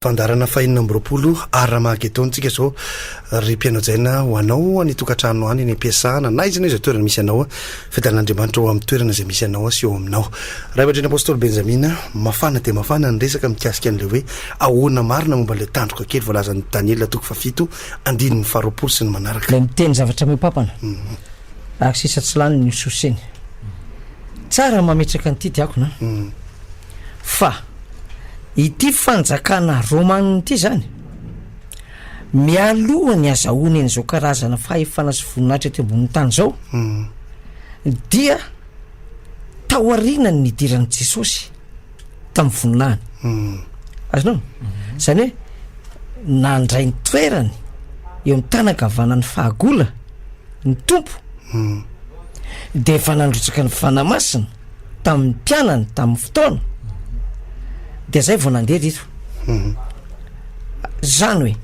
Fandaharana fahenina amby roapolo Har-Mahagedona tsika izao ry mpianao jaina ho anao any tokantrano any any am-piasana na izanao izay toerana misy anao fiadalan'Andriamanitra ao amin'ny toerana izay misy anao sy eo aminao Ray aman-dreny Apôstôly Benjamina mafana dia mafana ny resaka mikasika an'ilay hoe ahoana marina momba ilay tandroka kely voalazan'i Daniela toko fahafito andininy faharoapolo sy ny manaraka. Ilay miteny zavatra miopapana ary sisa tsy lany ny sosiny. Tsara ny mametraka an'ity diakona an. fa ity fanjakana romanina ity zany mialoha ny azahoany an'izao karazana fahefana sy voninahitra ety ambonin'ny tany zao dia taorianany nidiran'i Jesosy tamin'ny voninahiny azonao zany hoe nandray ny toerany eo amin'ny tanankavanan'ny fahagola ny Tompo dia efa nandrotsaka ny fanahy masina tamin'ny mpianany tamin'ny fotoana dia zay vao nandeha teto zany hoe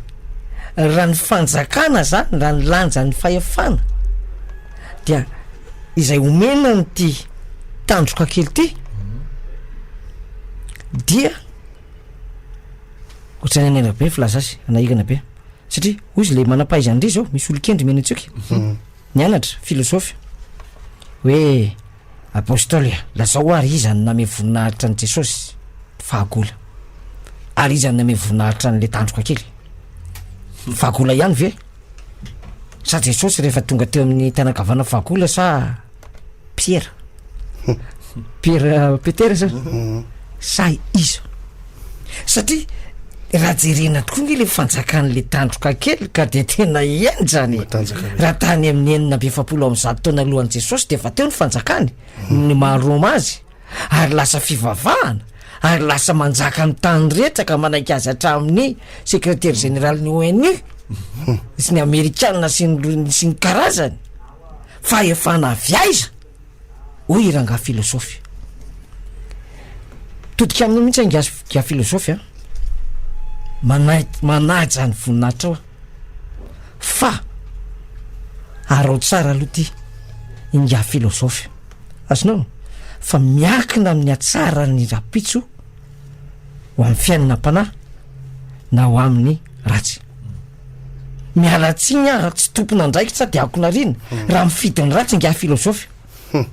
raha ny fanjakana zany raha ny lanjan'ny fahefana dia izay omena nyity tandroka kely ty dia ohatrany any anabe filaza azy ana hirana be satria hoy izy le manam-pahaizan'ndry zao misy olon-kendry mianatsoika nianatra filosofy hoe Apostoly a, lazao àry iza no namehy voninahitra an'i Jesosy? Fahagola. Ary iza no namehy voninahitra an'ilay tandroka kely? Ny fahagola ihany ve? Sa Jesosy rehefa tonga teo amin'ny tany ankavanana fahagola sa Piera? Piera Petera sa? Sa iza? satria raha jerena tokoa nge le fanjakan'le tandroka kely ka de tena henjana e raha tany amin'ny enina amby efapolo amin'ny zato taona alohan'i jesosy de efa teo ny fanjakany hmm. ny maha roma azy ary lasa fivavahana ary lasa manjaka ny tany rehetra ka manaiky azy hatramin'ny secretaire général ny onu hmm. sy ny amerikana sy ny sy ny karazany fa efa na avy aiza hoy i rangahy filozofy. Todika aminao mihitsy aho ingahy filozofy a! Manaiky, manaja ny voninahitrao aho. Fa araho tsara aloha ity ingahy filozofy, azonao? Fa miankina amin'ny hatsaran'ny rahampitso ho amin'ny fiainanam-panahy na ho amin'ny ratsy. Miala tsiny aho raha tsy tompon'andraikitra dia aokona rina raha mifidy ny ratsy ingahy filozofy.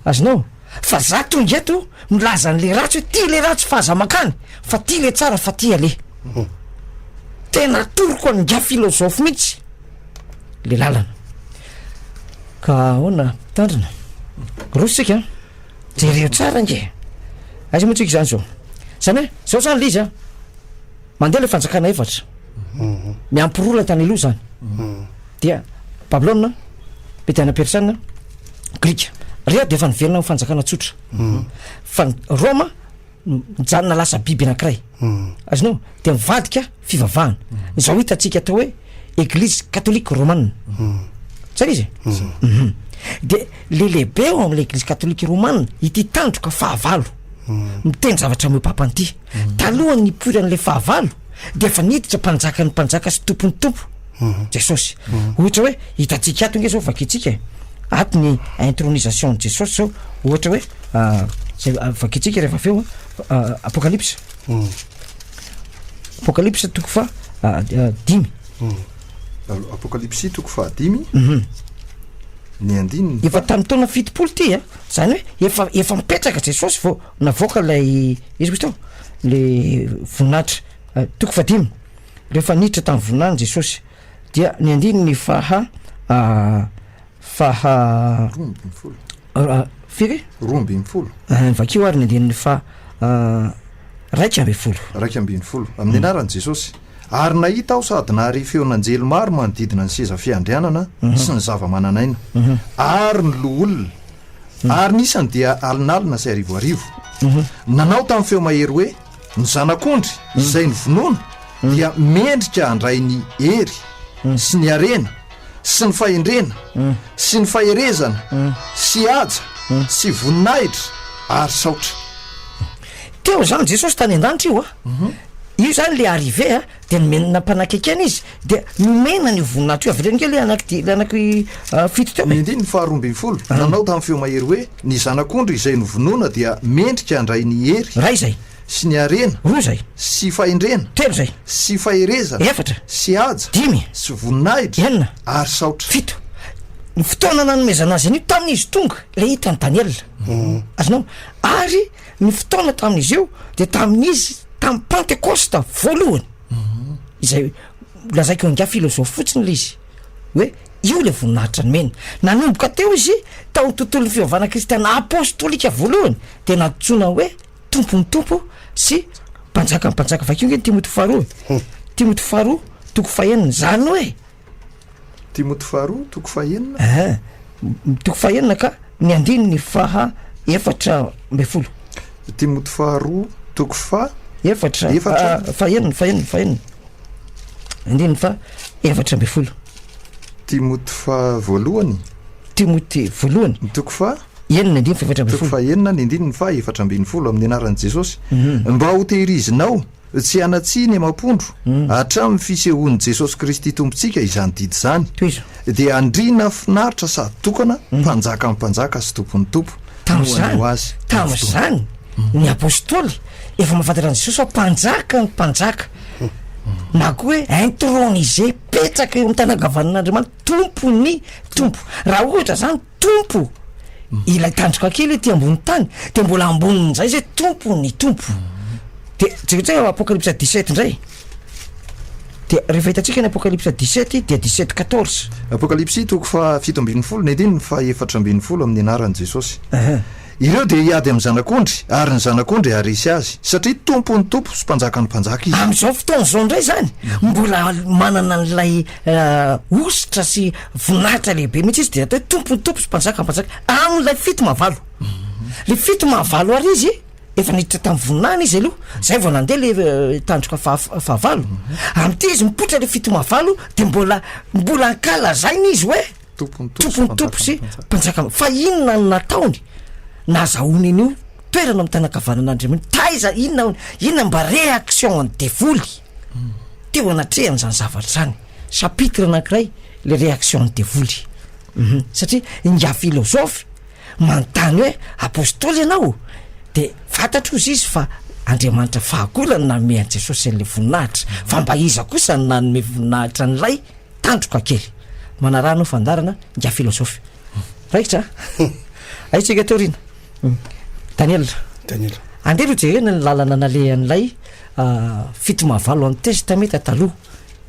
Azonao? Fa za tonga eto milaza an'le ratsy hoe ty le ratsy fa aza makany fa ty le tsara fa ty ale. Tena atoroko an'ingahy filozofy mihitsy le lalana. Ka ahoana mpitandrina? Roso tsika an! Jereo tsara ange! Aiza moa tsika izany zao? Zany hoe zao zany le izy an! Mandeha ilay fanjakana efatra, miampiroro ilay tany aloha izany, dia Babylona, Mediana Persiana, Grika. Rehetra dia efa niverina amin'ny fanjakana tsotra. Fa ny Roma no mijanona lasa biby anankiray. Azonao? Dia mivadika fivavahana. Izao hitantsika atao hoe Eglizy Katolika Romana. Zay ilay izy e. Mhm. Dia le lehibe ao amin'ilay Eglizy Katolika Romana ity tandroka fahavalo. miteny zavatra meo papanty mhm. talohan'ny ipoiran'la fahavalo de efa niditra mpanjaka ny mpanjaka sy tompony tompo mhm. jesosy mhm. ohatra hoe hitantsika ato nge zao vakitsika e. ato ny intronisation ny jesosy zao ohatra hoe ah, zay ah, vakitsika rehefa aveo ah, apokalypsa apokalypsa toko fa dimy apokalypsy toko fahadimy ny andininy efa tamin'ny taona fitopolo ty a zany hoe efa efa mipetraka jesosy vao navoaka lay izy kosa teo le voninahitra eh, toko fadimy rehefa niditra tamin'ny voninahiny jesosy dia ny andininy faha ah, faha roa ambin'ny folo ah, firy roa ambin'ny folo Ah, ny vakio ary ny andininy faha ah, raika ambin'ny folo raika ambin'ny folo amin'ny anaran'i jesosy Ary nahita aho sady nahare feon'anjely maro manodidina ny seza fiandrianana sy ny zava-manan'aina, ary ny loholona, ary ny isany dia alinalina sy arivoarivo. Nanao tamin'ny feo mahery hoe, Ny Zanak'ondry izay novonoina dia mendrika handray ny hery, sy ny harena, sy ny fahendrena, sy ny faherezana, sy haja, sy voninahitra, ary saotra. Teo zany Jesosy tany an-danitra io a, io zany le arrivée a, de nomeny nampanakaikiana izy, dia nomena an'io voninahitra io, avereno kely le anaky di- le anaky fito teo e. Ny andininy faharoa ambin'ny folo, nanao tamin'ny feo mahery hoe, Ny Zanak'ondry izay novonoina dia mendrika handray ny hery, Ray zay, sy ny harena, roa zay, sy fahendrena, telo zay, sy faherezana, efatra, sy haja, dimy, sy voninahitra, enina, ary saotra. fito. Ny fotoana nanomezana azy an'io tamin'izy tonga le hitan'i Daniela. Azonao? Ary ny fotoana tamin'izy io de tamin'izy tamin'ny pantekosta voalohany izay lazaiko angaha filozofy fotsiny le izy hoe io le voninahitra nomeny nanomboka teo izy tao tontolon'ny fivavahana kristiana apostolika voalohany de nantsoina hoe tompon'ny tompo sy mpanjaka ny mpanjaka vakio nge ny timoty faharoa e timoty faharoa toko fahenina zany hoe Timoty faharoa toko fahenina. Ehe, toko fahenina ka ny andininy faha efatra ambin'ny folo. Timoty faharoa toko faha efatra, efatra. Ah, fahenina, fahenina, fahenina. Andininy faha efatra ambin'ny folo. Timoty faha voalohany. Timoty voalohany. Ny toko faha enina andininy faha efatra ambin'ny folo. Toko faha enina ny andininy faha efatra ambin'ny folo amin'ny anaran'i Jesosy. Mm -hmm. Mba hotehirizinao. Tsy hianatsy ny amam-pondro, hatramin'ny fisehoan'i Jesosy Kristy Tompontsika izany didy izany, Tohizo. dia andriana finaritra sady tokana, mpanjakan'ny mpanjaka sy tompon'ny tompo, no haneho Azy tamin'ny fotoana. Tamin'izany, ny apostoly efa mahafantatra an'i Jesosy fa mpanjakan'ny mpanjaka, na koa hoe intronisé, mipetraka eo amin'ny tàna ankavanan'Andriamanitra, tompon'ny tompo. Raha ohatra izany, Tompo! Ilay tandroka kely ety ambony tany, dia mbola ambonin'izay izay, Tompo, ny Tompo. Dia jereo tsika Apocalypse dix-sept indray. Dia rehefa hitantsika ny Apocalypse dix-sept, dia dix-sept quatorze. Apocalypse toko faha fito ambin'ny folo, nety ny faha efatra ambin'ny folo amin'ny anaran'i Jesosy. Ireo dia hiady amin'ny Zanak'ondry, ary ny Zanak'ondry haharesy azy, satria Tompon'ny tompo sy Mpanjakan'ny mpanjaka izy. Amin'izao fotoana izao indray izany, mbola manana an'ilay hosotra sy voninahitra lehibe mihitsy izy, dia atao hoe Tompon'ny tompo sy Mpanjakan'ny mpanjaka, amin'ilay fito maha valo. Ilay fito maha valo ary izy, efa niditra tamin'ny voninahiny izy aloha, izay vao nandeha ilay tandroka faha, fahavalo. Amin'ity izy mipoitra ilay fito maha valo, dia mbola, mbola ankalazaina izy hoe. tompony tompo sy mpanjaka fa inona no nataony nazahoany an'io toerana amin'ny tanakavanan'andriamanitra taiza inona aony inona mba réaction an'ny devoly hmm. teo anatrehany zany zavatra zany chapitre anankiray le réaction an'ny devoly mhm. satria inga filozofy manontany hoe apostoly ianao de fantatro izy izy fa andriamanitra fahakolany nanome an'i jesosy an'la voninahitra hmm. fa mba iza kosa ny nanome voninahitra an'ilay Tandroka kely. Manaraha anao fandarana ingahy filozofy. Raikitra a! Ahitsika teo aoriana. Daniel. Daniel. Andeha aloha jerena ny lalana nalehan'ilay fito mahavalo an'i Testamenta Taloha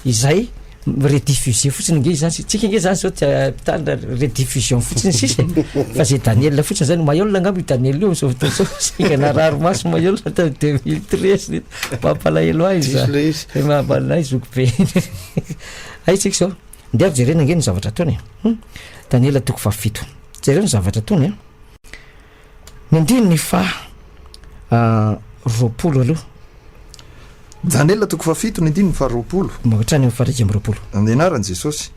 izay mi-rediffuser fotsiny nge izany sy tsika nge izany zao dia mpitandra rediffusion fotsiny sisa e. Fa izay Daniel fotsiny izany, Mayolle angamba io Daniel io amin'izao fotoana izao, singa narary maso Mayolle tany deux mille treize, mampalahelo ahy izy. Mampalahelo ahy zokibe. Hay tsika izao. Ndeha jerena ange ny zavatra ataony e. Hum. Daniela toko fahafito. Jereo ny zavatra ataony a. Ny andininy faha ah, roapolo aloha. Daniela toko fahafito ny andininy faha roapolo. Mba hatrany amin'ny faha iraika amby roapolo. Amin'ny anaran'i Jesosy.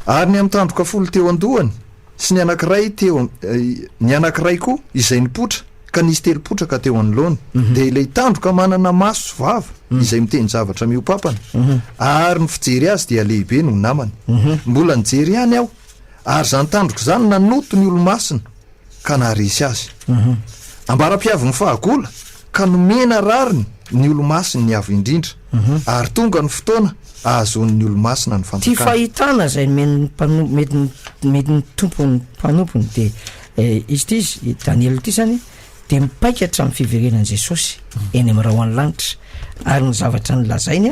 Ary ny amin'ny tandroka folo teo an-dohany sy ny anankiray teo am- eh, ny anankiray koa izay nipoitra Ka nisy telo potraka teo anoloany, dia ilay tandroka manana maso sy vava, izay miteny zavatra mihoa-pampana, ary ny fijery azy dia lehibe noho namany. Mbola nijery ihany aho, ary izany tandroka izany nanoto ny olomasina, ka naharesy azy. Ambaram-piavin'ny fahagola, ka nomena rariny ny olomasiny ny Avo Indrindra, ary tonga ny fotoana ahazoan'ny olomasina ny Fanjakana. Ity fahitana izay nomen'ny mpanompo, nomen'ny Tompo ny mpanompony dia. Izy ity, i Daniela ity izany dia mipaika hatramin'ny fiverenan'i Jesosy eny amin'ny rahon'ny lanitra ary ny zavatra nolazainy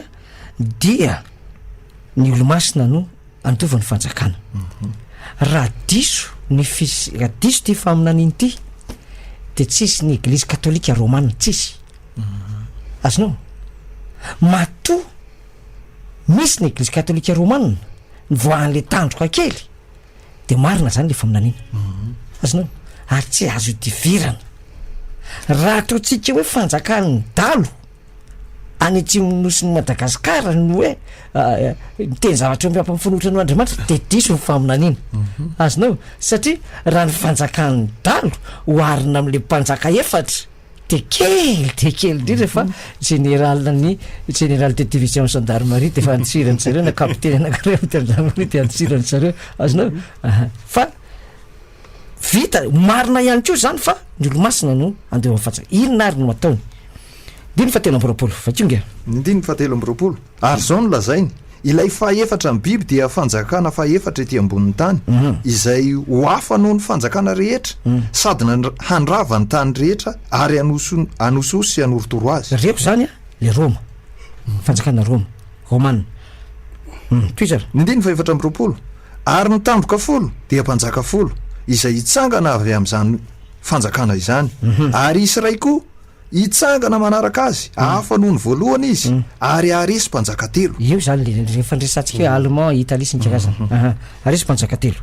dia ny olomasina no handova ny fanjakana. Mhm. Raha diso ny fis- raha diso ity faminaniana ity dia tsisy ny eglizy katolika romana tsisy. Mhm. Azonao? Matoa misy ny eglizy katolika romana nivoahan'le tandroka kely de marina zany le faminaniana mhm. azonao ary tsy azo idivirana raha ataontsika hoe fanjakan'ny dalo any atsimon'ny nosin'ny madagasikara no hoe ah, miteny zavatra o mpiampin'ny fanohitra no andriamanitra de diso ny faminaniana mhm. azonao satria raha ny fanjakan'ny dalo ho arina am'le mpanjaka efatra dia kely dia kely indrindra fa jeneralin'ny général de division gendarmerie dia efa antsirany zareo na kapiteny anankiray amin'ny gendarmerie dia antsirany zareo azonao aha fa vita marina ihany koa zany fa ny olomasina no andeha amin'ny fatsaka inona ary no ataony ndiny fa telo amby roapolo vakio nge ny ndiny fa telo amby roapolo Ary izao no lazainy, Ilay fahefatra ny biby dia fanjakana fahefatra ety ambonin'ny tany, izay ho hafa noho ny fanjakana rehetra, sady handrava ny tany rehetra, ary hanosihosy sy hanorotoro azy. Reko izany an, ilay Roma, ny fanjakana Roma, Roman. Umm, tohizo ary. Ny andininy fahefatra amby roapolo, Ary ny tandroka folo dia mpanjaka folo, izay hitsangana avy amin'izany fanjakana izany, ary hisy iray koa, Hitsangana manaraka azy, hafa noho ny voalohany izy, ary haharesy mpanjaka telo. Eo izany ilay ilay fandresantsika hoe Allemand, Italie sy ny karazany. Aha. Haharesy mpanjaka telo.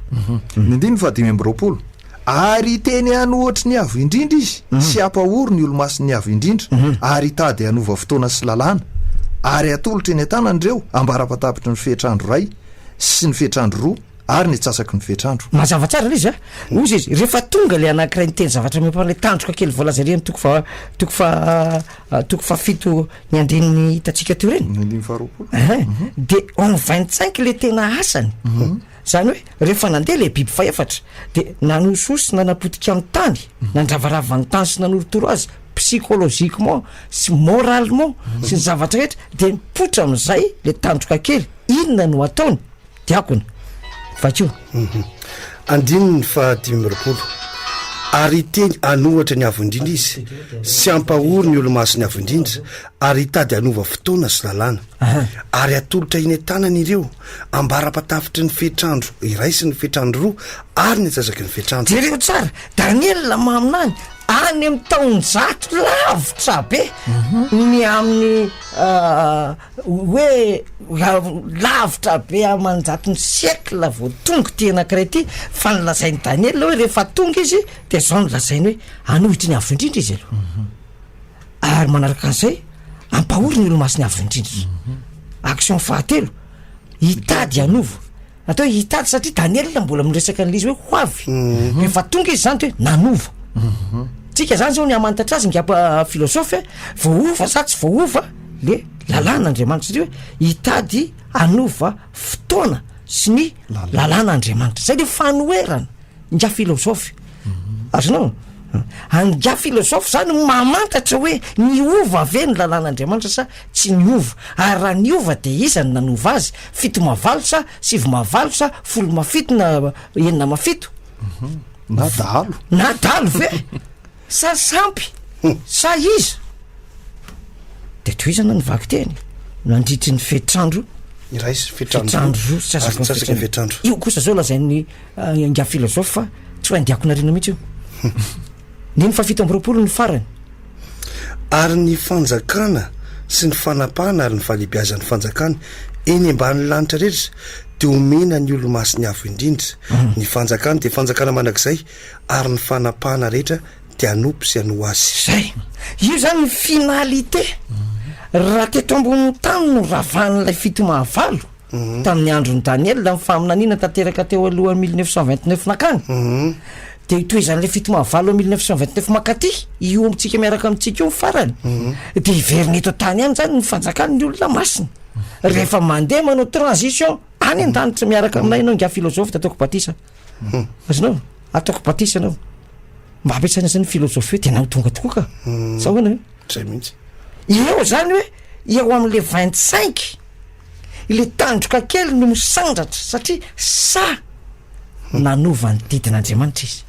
Ny andininy fahadimy amby roapolo, Ary hiteny an'ohatry ny Avo Indrindra izy, sy hampahory ny Olomasin'ny Avo Indrindra, ary hitady hanova fotoana sy lalàna, ary hatolotra eny an-tanany ireo ambara-patapitry ny fehitr'andro iray sy ny fehitr'andro roa, ary ny atsasaky ny fetr'andro. Mazava tsara ilay izy a! Hoy izy, rehefa tonga ilay anankiray niteny zavatra mihoa-panahy, ilay tandroka kely voalaza ery amin'ny toko faha, toko faha, toko fahafito ny andininy hitantsika teo ireny. Ny andininy faharoapolo. Ehe. Dia en vingt cinq ilay tena asany. Izany hoe, rehefa nandeha ilay biby fahefatra, dia nanosihosy sy nanapotika ny tany, nandravarava ny tany sy nanorotoro azy psychologiquement sy moralement sy ny zavatra rehetra, dia mipoitra amin'izay ilay tandroka kely, inona no ataony? diakona vakio mhm. andininy fa dimy amby roapolo ary iteny anohatra ny avo indrindra izy sy ampahory ny olomasiny avo indrindra ary hitady anova fotoana sy lalàna ary atolotra ine tanany ireo ambarapatafitry ny fetrandro iray sy ny fetrandro roa ary ny ajazaky ny fetrandro jereo tsara daniela maminany any amin'ny taonjato lavitra be mhm. ny amin'ny ah, Hoe raha lavitra be aman-jatony siècle vao tonga ity anankiray ity, fa ny lazain'i Daniela aloha hoe rehefa tonga izy dia izao no lazainy hoe, hanohitry ny Avo Indrindra izy aloha, ary manaraka an'izay hampahory ny Olomasin'ny Avo Indrindra, action fahatelo, hitady hanova, Natao hoe hitady satria Daniela mbola miresaka an'ilay izy hoe ho avy. Mhm. Rehefa tonga izy zany de hoe nanova. Mhm. Tsika zany zao ny hamantatra azy ngamba ah, filôsôfy hoe voahova sa tsy voahova le lalàn'Andriamanitra satria hoe hitady hanova fotoana sy ny lalàn'Andriamanitra. Zay le fanoherana. Ingahy Philosophe. Azonao? Ingahy Philosophe zany mamantatra hoe niova ve ny lalàn'Andriamanitra sa tsy niova? Ary raha niova de iza no nanova azy? Fito mavalo sa sivy mavalo sa folo mafito na enina mafito? Na dahalo. Na dahalo ve? Sa sampy? Sa iza? Dia tohizana ny vakiteny nandritry ny fetrandro iray sy fetrandro roa sy atsasaka ny fetrandro. Io kosa zao lazain'ny ah, ingahy filozofa fa tsy ho haindiako narina mihitsy io. Neny fa fito amby roapolo ny farany. Ary ny fanjakana sy ny fanapahana ary ny falehibiazan'ny fanjakana eny ambanin'ny lanitra rehetra dia omena ny olomasin'ny avo indrindra. Hmm. Ny fanjakana dia fanjakana mandrakizay ary ny fanapahana rehetra dia hanompo sy hanoa Azy. Izay. Io izany ny finalité. Raha teto ambonin'ny tany no ravahan'ilay fito mahavalo, tamin'ny andron'i Daniela, ny faminaniana tanteraka teo alohan'ny mille neuf cent vingt neuf nankany, dia itohizan'ilay fito mahavalo amin'ny mille neuf cent vingt neuf mankaty, io amintsika miaraka amintsika io ny farany, dia hiverina eto an-tany ihany izany ny fanjakan'ny olona masina. Rehefa mandeha manao transition any an-danitra miaraka aminay ianao ingahy Philosophe, Dadaoko Batisa. Azonao? Ataoko batisa anao. Mba ampiasaina zany philosophie tena ho tonga tokoa ka. Hmm. Sa ahoana? Zay mihitsy. Eo zany hoe eo amin'le vingt cinq le tandroka kely no misandratra satria sa hmm. nanova ny didin'Andriamanitra izy.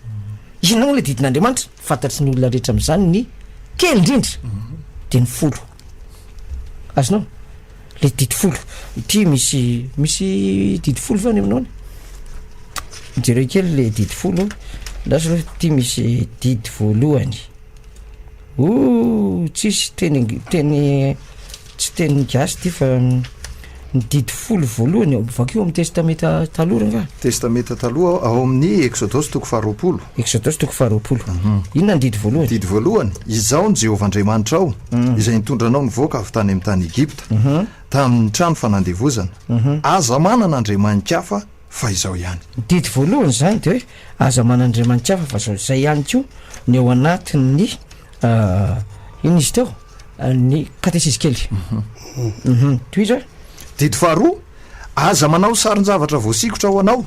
Inona moa le didin'Andriamanitra? Fantatry ny olona rehetra amin'izany ny kely indrindra hmm. de ny folo. Azonao? le didy folo ity misy misy didy folo va any aminao any jereo kely le didy folo andraso aloha ity misy didy voalohany o tsisy teny teny tsy teny gasy ty fa ny didy folo voalohany vakio amin'ny testamenta taloha ranga testamenta taloha ao amin'ny exodosy toko faharoapolo Eksodosy toko faharoapolo. Inona ny didy voalohany? Didy voalohany, Izaho ny Jehovah Andriamanitrao, izay nitondra anao nivoaka avy tany amin'ny tany Egypta, tamin'ny trano fanandevozana. Aza manana andriamani-kafa fa izao ihany. Ny didy voalohany izany dia hoe aza manana andriamani-kafa fa izao. Izay ihany koa no ao anatin'ny, inona izy teo, ny katesisy kely. Tohizo e. Didy faharoa, Aza manao sarin-javatra voasikotra ho anao,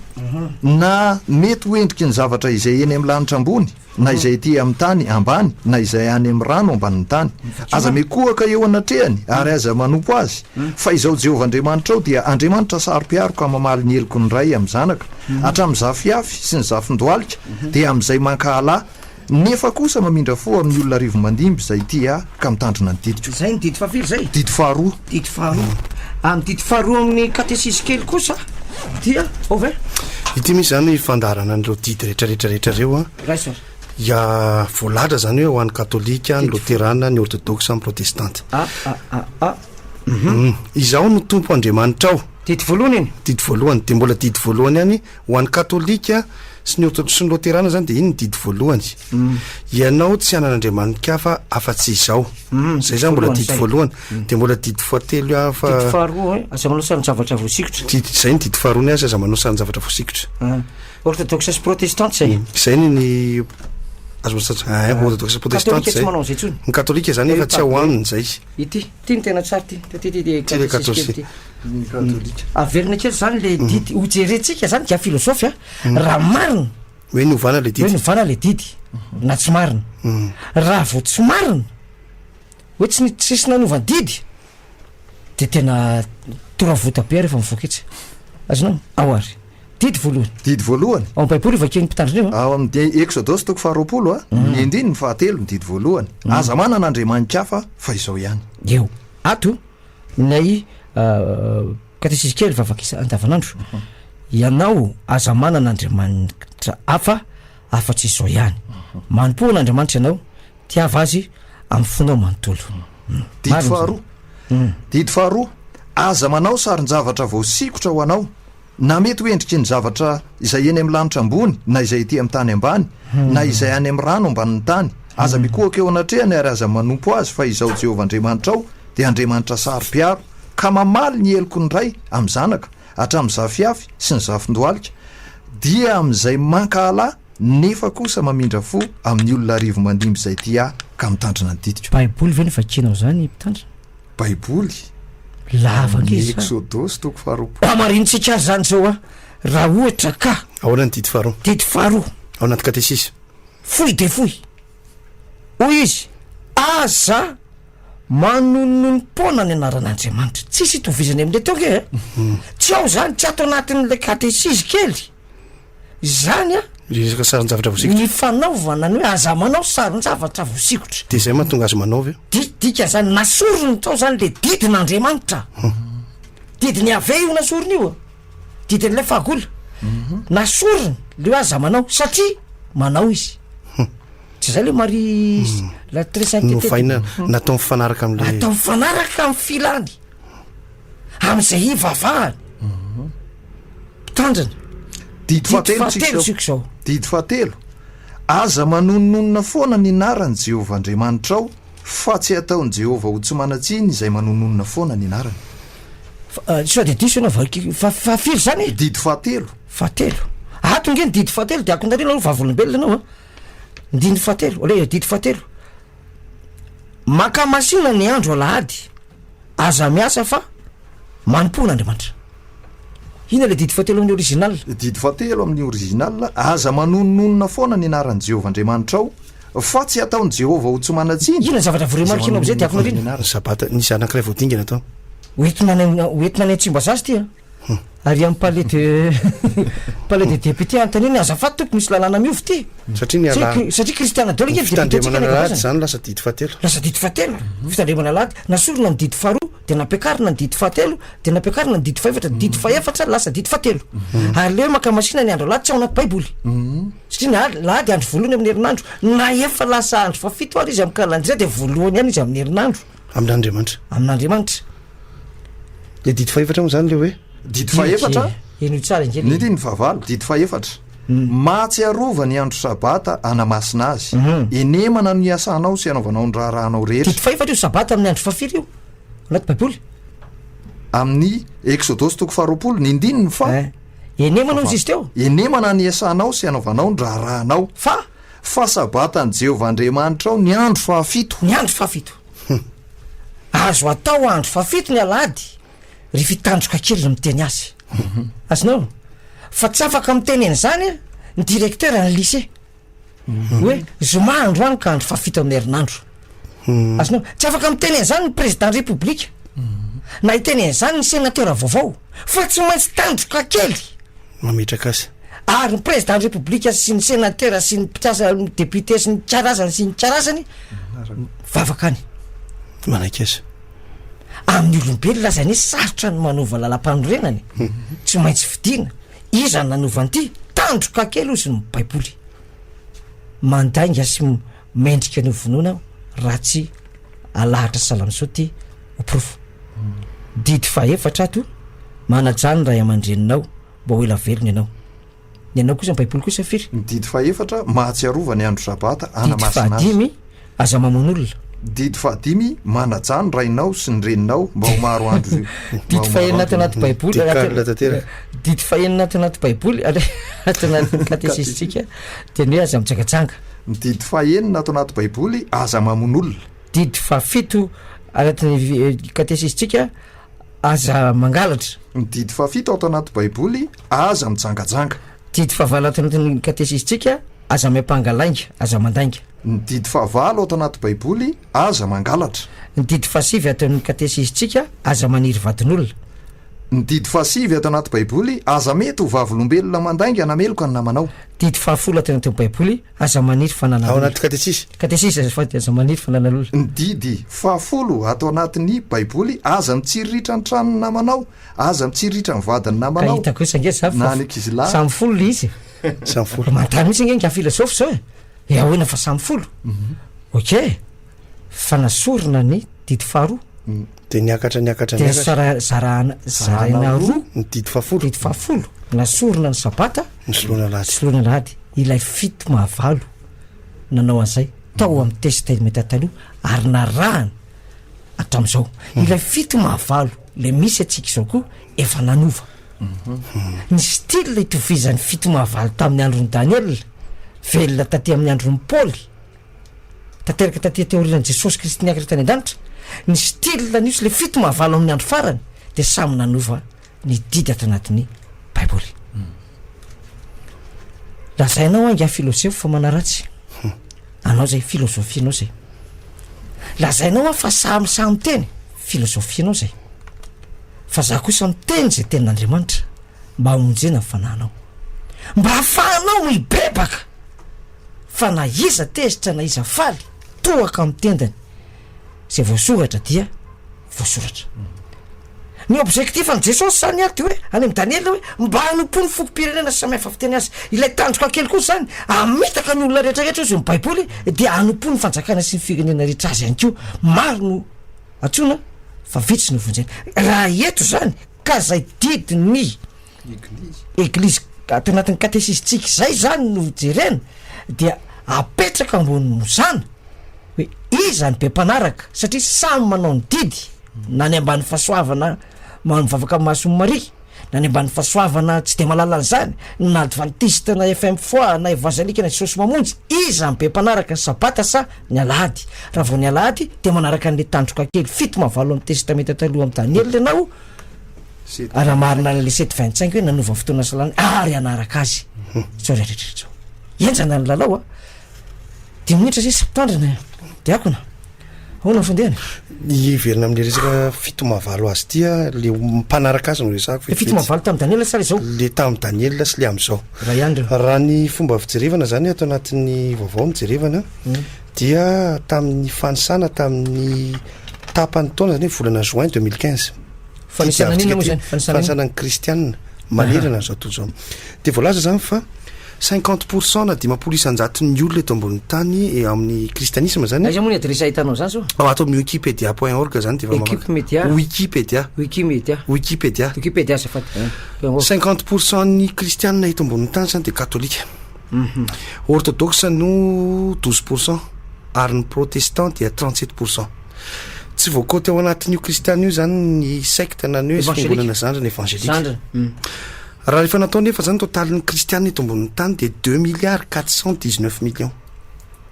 na mety ho endriky ny zavatra izay eny amin'ny lanitra ambony, na izay ety amin'ny tany ambany, na izay any amin'ny rano ambanin'ny tany. Aza mikohaka eo anatrehany, ary aza manompo azy. Fa Izaho Jehovah Andriamanitrao dia Andriamanitra saro-piaro ka mamaly ny heloky ny ray amin'ny zanaka, hatramin'ny zafiafy sy ny zafin-dohalika, dia amin'izay mankahala, Nefa kosa mamindra fo amin'ny olona arivo mandimby izay tia Ahy ka mitandrina ny didiko. Izay ny didy fahafiry izay? Didy faharoa. Didy faharoa. Ny didy faharoa amin'ny katesisy kely kosa dia ova e? Ity misy izany fandaharana an'ireo didy rehetra rehetra rehetra ireo an. Iray sary. Ya, voalahatra izany hoe ho an'ny katolika, ny loterana, ny ortodoksa, ny protestanta. A, a, a, a, um. Izaho no Tompo Andriamanitrao. Didy voalohany iny. Didy voalohany. Dia mbola didy voalohany ihany. Ho an'ny katolika sy ny orthodox sy ny loterana izany dia iny ny didy voalohany. Ianao tsy hanana andriamani-kafa afa-tsy izao. Izay izany mbola didy voalohany. Dia mbola didy fahatelo hafa. Didy faharoa, aza manao sarin-javatra voasikotra. Didy, izay ny didy faharoa ny azy, aza manao sarin-javatra voasikotra. Ah. Orthodox sy protestante izay. Izay ny ny azo manao sarin-javatra. Ah, orthodox sy protestante izay. Katolika tsy manao an'izay intsony. Ny katolika izany efa tsy ao aminy izay. Ity. Ty no tena tsara ty, ty ty dia katôsisy kely ty. Averina kely zany le mhm. didy, ho jerentsika zany dia filozofy a, mhm. raha marina. Hoe novana le didy. Hoe novana le didy, mhm. na tsy marina. Raha vao tsy marina, hoe tsy tsisy nanova didy, de tena toravota be rehefa mivoaka etsy. Azonao? Ao ary. Didy voalohany. Didy voalohany. Ao amin'ny Baiboly hovakian'ny Mpitandrina io a. Ao amin'ny Eksodosy toko faharoapolo a, ny andininy fahatelo ny didy voalohany. Aza manana andriamanitra hafa fa izao ihany. Eo. Ato, ilay katesizy kely vavaka isa- andavanandro. Ianao aza manana andriamanitra hafa afa-tsy izao ihany. Manompoa an'Andriamanitra ianao, tiava azy amin'ny fonao manontolo. Didy Marina izany. faharoa. Didy faharoa, aza manao sarin-javatra voasikotra ho anao. Na mety ho endriky ny zavatra izay eny amin'ny lanitra ambony, na izay ety amin'ny tany ambany, na izay any amin'ny rano ambanin'ny tany. Aza mikohaka eo anatrehany ary aza manompo azy fa izaho Jehovah Andriamanitrao dia Andriamanitra saro-piaro, ka mamaly ny heloky ny ray amin'ny zanaka, hatramin'ny zafiafy sy ny zafin-dohalika, dia amin'izay mankahala, nefa kosa mamindra fo amin'ny olona arivo mandimby izay tia ahy ka mitandrina ny ditiko. Baiboly ve no vakianao izany, Mpitandrina? Baiboly, Lava amin'ny nge sa? Eksodosy toko faharoapolo. Hamarinintsika azy izany izao a! Raha ohatra ka. Ahoana ny didy faharoa? Didy faharoa. Ao anaty katesisa. Fohy dia fohy. Hoy izy, Aza manononom-poana ny anaran'Andriamanitra. Tsisy itovizany amin'ilay teo ange e! Tsy ao izany, tsy ato anatin'ilay katesisa kely. izany a le resaka saron-javatra voasikotra ny fanaovana ny hoe aza manao saron-javatra voasikotra de zay mahatonga azy manaovy eo di dika zany nasorony tao zany le didin'andriamanitra didiny yave io nasorony io didin'ilay fahagola nasorony le hoe aza manao satria manao izy tsy zay le mari la très sainte novaina natao mifanaraka amle atao mifanaraka amy filany am'izay hivavahany Mpitandrina. Didy fahatelo isika izao. Didy fahatelo, Aza manononona foana ny anaran'i Jehovah Andriamanitrao, fa tsy hataon'i Jehovah ho tsy manan-tsiny izay manononona foana ny anarany. Fa, sao dia diso ianao, vaki, fa, fahafiry izany e? Didy fahatelo. Fahatelo. Ato ange ny didy fahatelo dia akonarina aloha vavolombelona ianao a. Ny didy fahatelo, aleha, didy fahatelo, Mankamasina ny andro alahady. aza miasa fa manompoana Andriamanitra. Inona ilay didy fahatelo amin'ny original? Didy fahatelo amin'ny original, aza manononona foana ny anaran'i Jehovah Andriamanitrao, fa tsy hataon'i Jehovah ho tsy manan-tsiny. Inona ny zavatra voremarika anao amin'izay, Diakona Rina? Ny Sabata, ny isa anankiray vao dingana tao. Hoentina any, hoentina any Antsimbazaza ity an! Ary amin'ny palais de palais des députés anontaniana hoe azafady tompoko misy lalàna miova ity? Satria ny ala- Satria satria Christiana Diao ilay député-ntsika Fitandremana alahady nentim-paharazana. izany lasa didy fahatelo. Lasa didy fahatelo, fitandremana alahady. Nasorina ny didy faharoa, dia nampiakarina ny didy fahatelo, dia nampiakarina ny didy fahefatra, didy fahefatra lasa didy fahatelo. Aleo maka masina ny andro alahady tsy ao anaty Baiboly. Satria ny al- alahady andro voalohany amin'ny herinandro, na efa lasa andro fahafito ary izy amin'ny calendrier dia voalohany ihany izy amin'ny herinandro. amin'Andriamanitra. Amin'Andriamanitra. Le didy fahefatra moa zany le hoe didy fahefatra. Eno tsara inge. Ny didy fahavalo, didy fahefatra. Hmm. Mahatsiarova ny andro sabata anamasina azy. Hmm. Enemana ny asanao sy anaovanao ny raharahanao rehetra. Didy fahefatra io sabata amin'ny andro fahafiry io. Anaty Baiboly. Amin'ny Exodus toko faharoapolo, ny ndininy fa eh. Enemana izy teo. Enemana ny asanao sy anaovanao ny raharahanao. Fa Fa Sabatan'i Jehovah Andriamanitrao ny andro fahafito. Ny andro fahafito. Azo atao andro fahafito ny Alahady, ry fitandroka kely no miteny azy. Azonao? Fa tsy afaka miteny an'izany ny directeur-n'ny lycée. Hoe, zoma androany ka andro fahafito amin'ny herinandro. Azonao? Tsy afaka miteny an'izany ny Prezidàn'ny Repoblika, na hiteny an'izany ny Senatera vaovao, fa tsy maintsy tandroka kely, mametraka azy. Ary ny Prezidàn'ny Repoblika sy ny Senatera sy ny mpikasa, ny Depiote sy ny karazany sy ny karazany, mivavaka any. Manaiky azy. Amin'ny olombelona aza anie sarotra ny manova lalampanorenana e! Tsy maintsy fidiana. Iza no nanova an'ity? Tandroka kely hozy ny Baiboly. Mandainga sy mendrika ny ho vonoina aho raha tsy alahatra Salansoa ty ho porofo. Didy fahefatra ato, manajà ny ray aman-dreninao mba ho ela velona ianao. Ny anao kosa ny baiboly kosa firy? Ny didy fahefatra, mahatsiarova ny andro sabata, anamasina azy. Didy fahadimy, aza mamono olona. Didy fahadimy, manajà ny rainao sy ny reninao mba ho maro andro. Didy fahenina ato anaty baiboly. Didy fahenina ato anaty baiboly, ato anaty katesisitsika, dia ny hoe aza mijangajanga. Ny didy fahenina ato anaty Baiboly, Aza mamono olona. Didy fahafito anatin'ny Katesisitsika, Aza mangalatra. Ny didy fahafito ato anaty Baiboly, Aza mijangajanga. Didy fahavalo ato anatin'ny Katesisitsika, Aza miampanga lainga, Aza mandainga. Ny didy fahavalo ato anaty Baiboly, Aza mangalatra. Ny didy fahasivy ato amin'ny Katesisitsika, Aza maniry vadin'olona. Ny didy fahasivy ato anaty Baiboly, Aza mety ho vavolombelona mandainga na meloka ny namanao. Didy fahafolo ato anatin'ny Baiboly, Aza maniry fananan'olona. Ao anaty Katesisa. Katesisa, azafady, Aza maniry fananan'olona. Ny didy fahafolo ato anatin'ny Baiboly, Aza mitsiriritra ny tranon'ny namanao, aza mitsiriritra ny vadin'ny namanao. Ka hitako etsy ange za fa samy folo le izy e. Samy folo. Manontany mihitsy ange ingahy filozofa zao e. He ahoana fa samy folo? Ok, fa nasorina ny didy faharoa. Dia niakatra niakatra Dia niakatra. sara- zarahana- zaraina roa Ny didy fahafolo. didy fahafolo na sorona ny sabata Ny soloana alahady. soloana alahady ilay fito mahavalo nanao an'izay tao amin'ny testamente taloha ary narahana hatramin'izao ilay fito mahavalo ilay misy antsika izao koa efa nanova ny style itovizan'ny fito mahavalo tamin'ny andron'i daniela velona taty amin'ny andron'i paoly Tanteraka taty teorian'i Jesosy Kristy niakatra tany an-danitra, ny style anio sy le fito maha valo amin'ny andro farany dia samy nanova ny didy ato anatin'ny Baiboly. Lazainao angaha filozefo fa manaratsy anao zay filozofianao zay. Lazainao hoa fa samy sahy miteny, filozofianao zay. Fa za kosa miteny zay tenin'Andriamanitra mba hamonjena ny fanahinao. Mba hahafahanao mibebaka! fa na iza tezitra na iza faly tohaka amin'ny tendany izay voasoratra dia voasoratra. Ny objectif an'i Jesosy izany ary dia hoe any amin'ny Daniela hoe mba hanompo ny fokom-pirenena samihafa fiteny azy. Ilay tandroka kely kosa izany hamitaka ny olona rehetra rehetra hozy ny baiboly dia hanompo ny fanjakana sy ny firenena rehetra azy ihany koa. Maro no antsoina fa vitsy no vonjena. Raha eto izany. ka zay didy ny eglizy ato anatin'ny katesisitsika izay zany no jerena dia apetraka ambonin'ny mozana hoe iza ny be mpanaraka satria samy manao ny didy na ny ambany fahasoavana ma- mivavaka amin'ny mason'i maria na ny ambany fahasoavana tsy de mahalala an'izany na advantiste na fm foi na evazalika na jesosy mamonjy iza ny be mpanaraka ny sabata sa Ny Alahady, raha vao ny Alahady dia manaraka an'ilay tandroka kely fito maha valo amin'ny Testamenta Taloha amin'i Daniela ianao, ary hamarina an'ilay sept vingt cinq hoe nanova ny fotoana salany ary hanaraka azy izao rehetra rehetra izao. Henjana ny lalao a! Dimy minitra sisa, mpitandrina e! Diakona, ahoana ny fandehany? Hiverina amin'ny resaka fito maha valo azy ity a, ilay mpanaraka azy no resahako Ilay fito maha valo tamin'i Daniela sa ilay izao? Ilay tamin'i Daniela sy ilay amin'izao. Raiandrina. Raha ny fomba fijerevana izany ato anatin'ny vaovao no jerevana dia tamin'ny fanisana tamin'ny tapan'ny taona izany hoe volana juin deux mille quinze. Fanisana an'inona moa izany? Fanisana an'inona? Fanisana ny kristianina manerana an'izao tontolo izao. Dia voalaza izany fa cinquante pour cent na dimampolo isan-jaton'ny olona eto ambonin'ny tany eh, amin'ny kristianisma izany. Aiza moa ny adiresy ahitanao izany zao? Ao ato amin'ny wikipedia point org izany dia efa mamaka- Equipe Media. Wikipedia. Wikimedia. Wikipedia. Wikipedia azafady. Cinquante pour cent ny kristianina eto ambonin'ny tany zany dia katolika. Mhm. Orthodoxe no douze pour cent ary ny protestant dia trente sept pour cent. Tsy voakoty ao anatin'io kristianina io zany ny secte na ny hoe Evangelique. fiangonana zandriny evangelique. Zandriny. Mm. Raha rehefa natao nefa zany totalin'ny kristianina eto ambonin'ny tany dia deux milliards quatre cent dix neuf millions.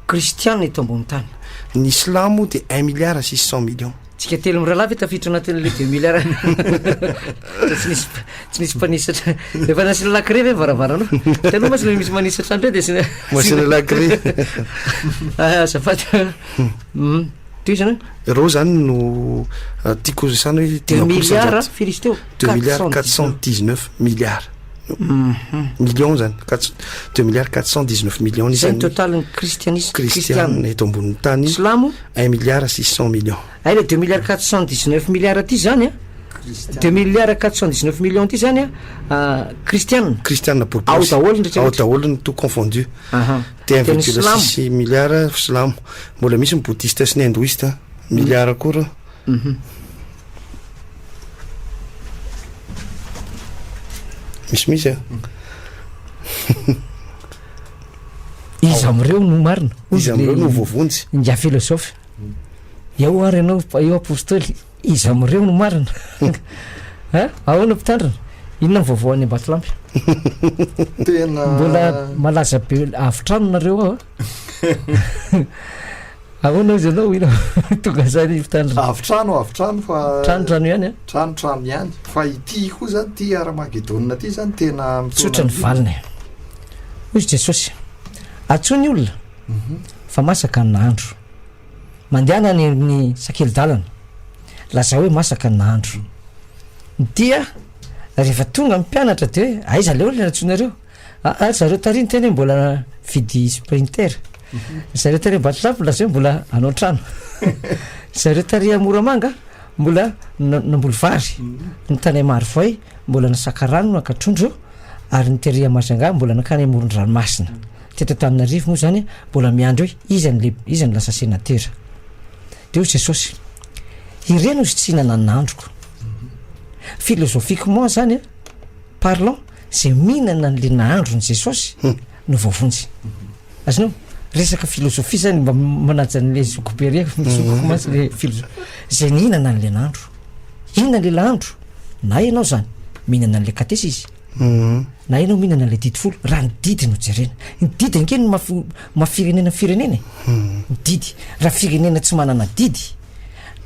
Kristianina eto ambonin'ny tany. Ny silamo dia un milliard six cent millions. Tsika telo mirahalahy ve tafiditra anatin'ilay deux milliards tsy nisy tsy nisy mpanisatra efa nasiana lacré ve varavarana taloha masina misy manisatra andreo dia sina masina lacré ah, azafady hmm. teo izany reo zany no ah, tiako resana hoe deux milliards firy izy teo deux milliards quatre cent dix neuf milliards mhm. million zany deux milliards quatre cent dix neuf million isan'ny total ny kristianisme kristiana eto ambonin'ny tany silamo Un milliard six cent millions. Hay le deux milliards quatre cent dix neuf milliards ty zany an, deux milliards quatre cent dix neuf millions ty zany an, kristiana, kristiana boribory, ao daholo ny ao daholo ny tout confondu, dia un virgule six milliards silamo, mbola misy ny bouddhiste sy ny hindouiste, milliards koa reo. Mhm. Misy misy a. Iza amin'ireo no marina? Iza amin'ireo no voavonjy? Ingahy filôzôfy. Eo ary ianao, eo apôstôly, iza amin'ireo no marina? Ha? Ahoana mpitandrina? Inona ny vaovao any Ambatolampy? Tena mbola malaza be avy trano nareo ao a. Ahoana hozy ianao ila tonga zay ny mpitandrina? Avy trano avy trano fa Trano trano ihany a? Trano trano ihany fa ity koa zany ity Armagedona ity zany tena Tsotra ny valiny e. Hoy izy Jesosy, Atsoy ny olona mhm. fa masaka ny nahandro. Mandehana any amin'ny sakeli-dalana, lazao hoe masaka ny nahandro. Dia rehefa tonga ny mpianatra dia aiza le olona natsoinareo? Aa ry zareo tary niteny hoe mbola mividy sprinter, ry zareo tary Ambatolampy nilaza hoe mbola hanao trano, ry zareo tary Moramanga mbola namboly vary, ny tany Amarivay mbola nisaka rano naka trondro, ary ny tery Majunga mbola nankany amoron-dranomasina. Teto Antananarivo moa izany mbola miandry hoe iza no lehibe, iza no lasa senatera. Dia hoy Jesosy, ireny hozy tsy hihinana an'ny nandroko. Philosophiquement izany an! parlant ze mihinana ny le nahandro ny jesosy no voavonjy azonao resaka filozofia zany mba manaja anle zoko be re mizokoko mantsy le filozo zay nihinana anle nahandro inona le lahandro na ianao zany mihinana anle katesa izy mhm. na ianao mihinana anle didy folo raha ny didy no jerena ny didy anke no maf mafirenena firenena e mhm. ny didy raha firenena tsy manana didy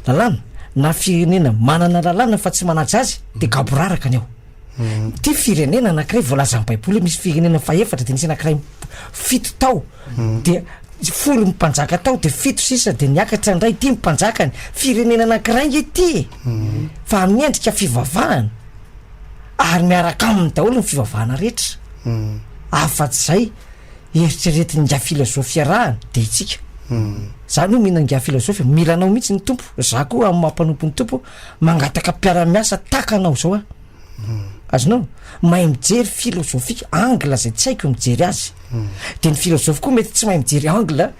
lalàna na firenena manana lalàna fa tsy manaja azy dia gaboraraka ny ao. Ity firenena anankiray voalazan'ny Baiboly hoe misy firenena fahefatra dia nisy anankiray fito tao dia folo ny mpanjaka tao dia fito sisa dia niakatra indray ity ny mpanjakany. Firenena anankiray nge ity e. Fa amin'ny endrika fivavahana ary miaraka aminy daholo ny fivavahana rehetra. Afa-tsy izay eritreretin' ingahy filazofy iarahany dia itsika. Za aloha mihina ingahy filazofy, mila anao mihitsy ny Tompo, za koa amin'ny maha mpanompo ny Tompo mangataka mpiara-miasa tahaka anao izao aho. Azonao? Mahay mijery filozofia, angle izay tsy haiko mijery azy. Dia ny filazofy koa mety tsy mahay mijery angle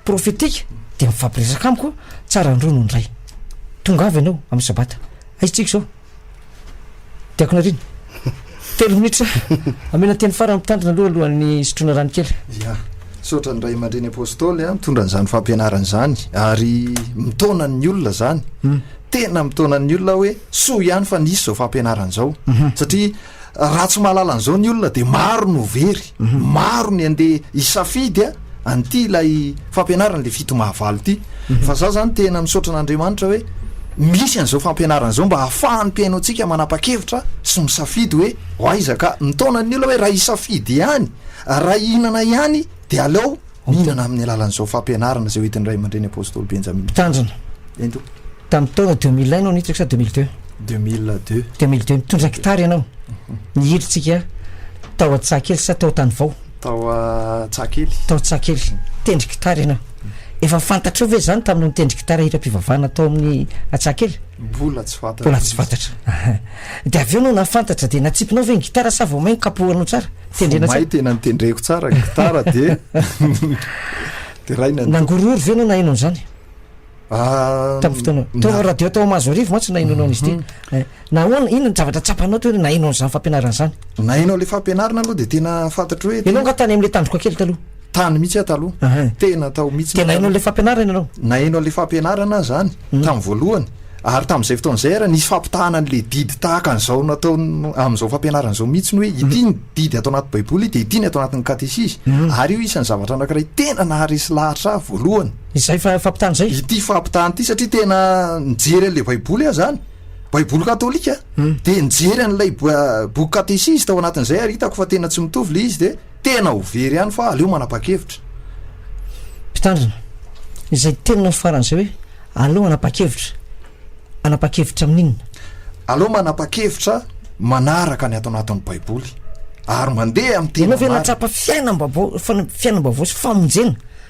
profetika, dia mifampiresaka amiko, tsara ny roa no ny iray. Tongava ianao amin'ny sabata, aiza tsika izao? Diakona Rina, telo minitra, amena teny farany mpitandrina aloha alohan'ny hisotroana rano kely. Ya, saotra ny ray aman-dreny apôstôly an, mitondra an'izany fampianarana izany ary mitaona ny olona izany. Hmm. Tena mitaona ny olona hoe soa ihany fa nisy izao fampianarana izao. Hmm. Satria Raha tsy mahalala an'izao ny olona dia maro no very, maro ny andeha hisafidy a, an'ity ilay fampianarana ilay fito mahavalo ity. Fa za zany tena misaotra an'Andriamanitra hoe misy an'izao fampianarana izao mba hahafahan'ny mpihaino antsika manapa-kevitra sy misafidy hoe ho aiza ka. Mitaona ny olona hoe raha hisafidy ihany, raha hihinana ihany dia aleo Nihinana amin'ny alalan'izao fampianarana izay hoentin'ny Ray aman-dReny Apôstôly Benjamin. Mpitandrina. Ento. Tamin'ny taona deux mille un no niditra sa deux mille deux? Deux mille deux. Deux mille deux. Nitondra gitara ianao. Nihidritsika tao Antsahakely sa tao Tanivao? Tao Antsahakely. Tao Antsahakely. Nitendry gitara ianao. Efa fantatrao ve izany taminao nitendry gitara hiram-pivavahana tao amin'ny Antsahakely? Mbola tsy fantatra. Mbola tsy fantatra. Dia avy eo no nahafantatra dia natsipinao ve ny gitara sa vao mainka kapohanao tsara? Tendrena tsara. Vao may tena nitendreko tsara gitara dia deraina ny. Nangorohoro ve ianao nahaino an'izany? Ah, Tamin'ny fotoana tao na- radio tao Mahazoarivo mantsy nahainoanao an'izy ity. Eh, Nahoana inona ny zavatra tsapanao teo hoe nahaino an'izany fampianarana izany? Nahaino an'ilay fampianarana aloha dia tena fantatro hoe Ianao nga tany amin'ilay tandroka kely taloha. tany mihitsy aho taloha. Ahay. Tena tao mihitsy Dia ny nahaino tany. an'ilay fampianarana ianao. Nahaino an'ilay fampianarana aho izany. Tamin'ny voalohany, ary tamin'izay fotoana izay ary, nisy fampitahana an'ilay didy tahaka an'izao natao amin'izao fampianarana izao mihitsy ny hoe ity ny didy ato anaty Baiboly dia ity ny ato anatin'ny katesizy. Ary io isan'ny zavatra anankiray tena naharesy lahatra ahy voalohany. Izay fampitahana izay? Ity fampitahana ity, satria tena nijery an'ilay Baiboly aho izany, Baiboly katolika, dia nijery an'ilay boky katesizy tao anatin'izay ary hitako fa tena tsy mitovy ilay izy dia, Tena ho very ihany fa aleo manapa-kevitra. Mpitandrina, izay tenona faran'izay hoe aleo hanapa-kevitra, hanapa-kevitra amin'inona? Aleo manapa-kevitra manaraka ny ato anatin'ny Baiboly ary mandeha amin'ny tena marina. Ianao ve nahatsapa fiainam-baovao, fiainam-baovao sy famonjena?